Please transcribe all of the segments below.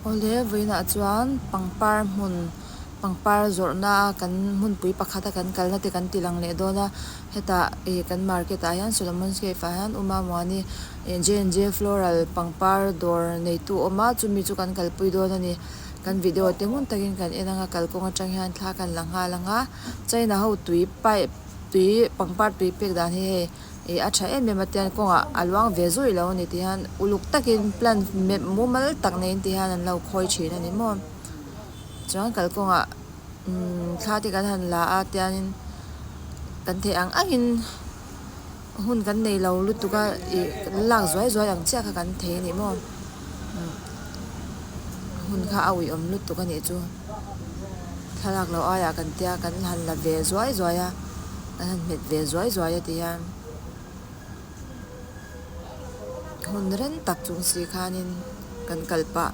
Awle, vawiinah chuan pangpar hmun, pangpar zawrhna a kan hmunpui pakhat a kan kalna te kan tih lang leh dawn a, hetah ih kan market ah hian Solomon's Cave ah hian Uma Muani ih J&J Floral pangpar dawr neitu a awm a, chumi chu kan kalpui dawn a ni. Kan video te hmun takin kan en ang a, kalkawng atang hian thla a kan la nghal ang a, China ho tui pipe -- Tui pangpar tui pek dan hi hei ih a tha em em atian kawngah a luang ve zui lo ani tih hian uluk takin plant mep mumal tak neiin tih hian an lo khawi thin a ni maw chuan kalkawngah umm thla te kan han la a tianin kan thei ang angin-- Hun kan nei lo lutuk a ih lak zuai zuai ang chiah kha kan thei a nih maw? Hun kha a uiawm lutuk a nih chu. Thlalak lo aiah kan tia kan han la ve zuai zuai a, kan han hmet ve zuai zuai a ti hian. Hun reng tak chung si khanin kan kal pah.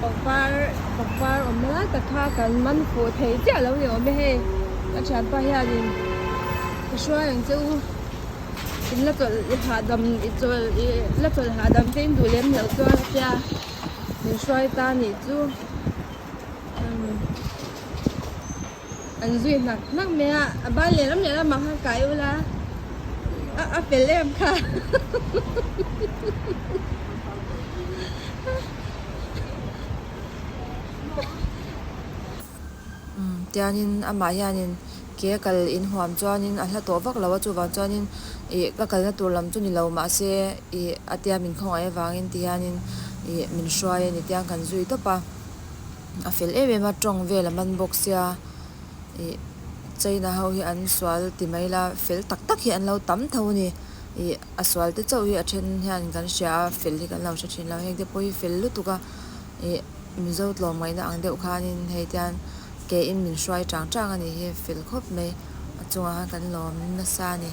Pangpar pangpar awmna lai ka kha kan man fuh thei chiah lo ni awm e hei ka thianpa hianin ka hruai ang che u in la chawlh hahdam i chawlh i la chawlh hahdam te in duh lem loh chuan a tia min hruai ta nih chu umm. An zui hnak hnak mai a, a ban leh ram leh ram ah khan kai ula, a a fel em kha. Tianin amah hianin ke kal in huam chuanin a hla tawh vak lo a, chuvang chuanin i ka kalna tur lam chu ni lo mahse i a tia min khawngaih avangin ti hianin i min hruai a ni tiang kan zui tawp a. A fel em em a tawng vel a man bawk sia ih China ho hi an sual ti mai la fel tak tak hi an lo tam tho a ni ih a sual te chauh hi a then hian kan hria a fel hi kan lo hre thin lo heng te pawh hi fel lutuk a ih Mizo tlawm ngaih na ang deuh khan in hei te hian ke in min hruai chang chang a nih hi fel khawp mai a chungah khan kan lawm nasa a ni.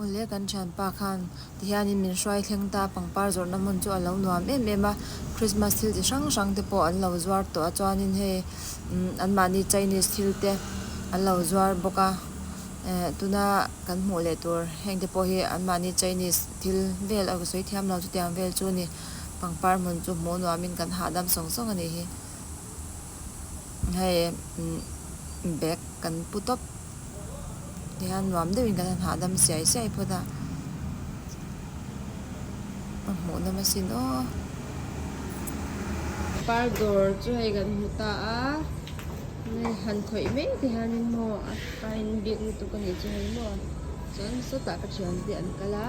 Awle, kan thianpa khan tihianin min hruai thleng ta, pangpar zawrhna hmun chu a lo nuam em em a, Christmas thil chi hrang hrang te pawh an lo zuar tawh a, chuanin hei anmahni Chinese thil te an lo zuar bawk a, tuna kan hmuh leh tur heng te pawh hi anmahni Chinese thil vel a sawi thiam lo chutiang vel chu a ni, pangpar hmun chu hmuh nuamin kan hahdam sawng sawng a nih hi. hei bag kan pu tawp ti hian nuam deuhin kan han hahdam siai siai phawt a ka hmuh na masin aw par dawr chu hei kan hmu ta a han khawih mai te hian in hmaw a pa in biak lutuk a nih chu hei maw chuan sawtah ka thian te an kal a.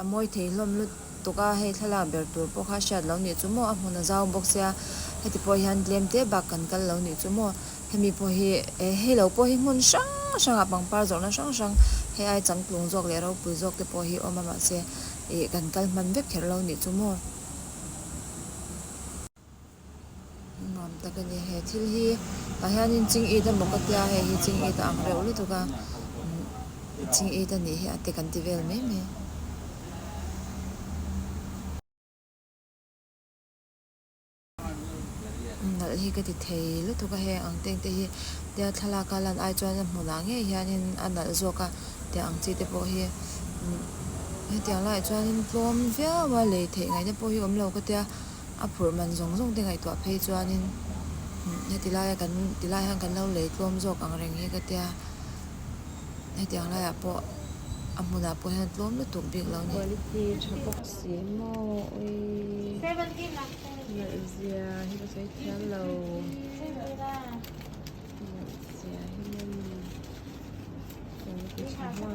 A mawitheih hlawm lutuk a, hei thlalak ber tur pawh kha hriat lo nih chu maw, a hmun a zau bawk sia, heti pawh hian tlem te bak kan kal lo nih chu maw. Hemi pawh hi eh hei lo pawh hi hmun hrang hrangah pangpar zawrhna hrang hrang hei ai changtlung zawk leh ropui zawk te pawh hi awm a mahse, ih kan kal hman vek kher lo nih chu maw. Nuam tak a ni. He thil hi tah hianin ching it a mawk a tia hei hi ching it a ang reuh lutuk a, ching it a nih hi a te kan ti vel mai mai. Nalh hi ka ti thei lutuk a heng ang teng te hi tia thlalak a lan ai chuan a hmu lah ngei hianin a nalh zawk a tih ang chi te pawh hi hetiang lai ah chuan tlawm viau a lei theih ngaihna pawh hi awm lo ka tia. a phurh man zawng zawng te ngaihtuah phei chuanin heti laia kan ti lai hian kan lo lei tlawm zawk ang reng hi ka tia hetiang laiah pawh a hmunah pawh hian tlawm lutuk bik lo ni. Quality tha bawk si mawi nalh zia hi ka sawi thiam lo nalh zia hi nen quality tha hman.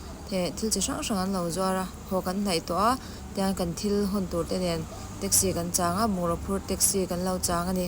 heh thil chi hrang hrang an lo zuar a haw kan hnaih tawh a tiang kan thil hun tur te nen taxi kan chang a bungraw phur taxi kan lo chang a ni.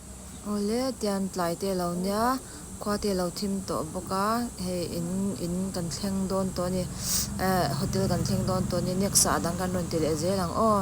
Awle, tian tlai teh lo nia, khua teh lo thim tawh bawk a, hei in in kan thleng dawn tawh a ni, eh hotel kan thleng dawn tawh a ni, next ah a dang kan rawn ti leh zel ang aw.